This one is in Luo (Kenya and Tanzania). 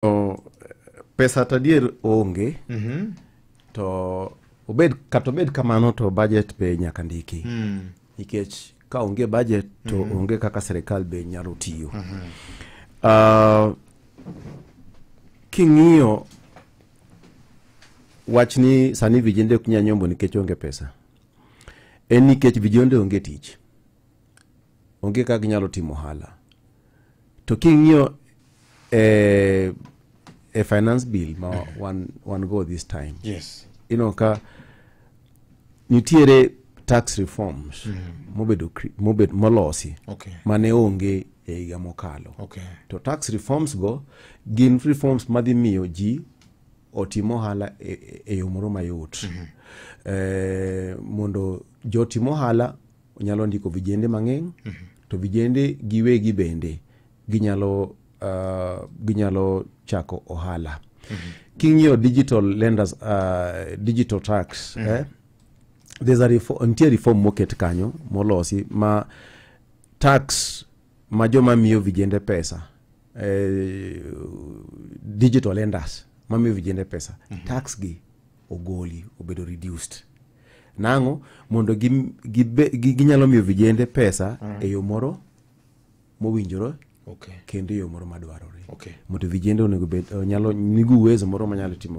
O, pesa to adier onge Mhm. to obed kata obed kamano to budget be nyaka ndiki Mm. nikech ka onge budget to Mhm. onge kaka sirikal be nyalo tiyo Ah, king'iyo wach ni sani vijende ok nyal nyombo nikech onge pesa en nikech vijende onge tich onge kaka ginyalo timo ohala to king'iyo e, e finance bill ma wan, wan go this time yes ineno ka nitiere tax reforms mobedo cre- mobed, molosi okay mane onge e higa mokalo okay to tax reforms go gin reforms madhi miyo ji otim ohala e, e- e yo moro mayot eh, mondo jotim ohala Onyalo ndiko vijende mang'eny to vijende giwegi bende ginyalo, uh, ginyalo chako ohala. King'iyo digital lenders, uh, digital tax, eh, there's a reform, nitie reform moket kanyo molosi ma tax ma joma miyo vijende pesa eh, digital lenders mamiyo vijende pesa tax gi ogoli obedo reduced Nang'o? Mondo gi- gibe- gi- ginyalo miyo vijende pesa e yo moro mowinjore Okay. kendo e yo moro madwarore. Okay. Mondo vijende onego bed nyalo nigo uwezo moro manyalo timo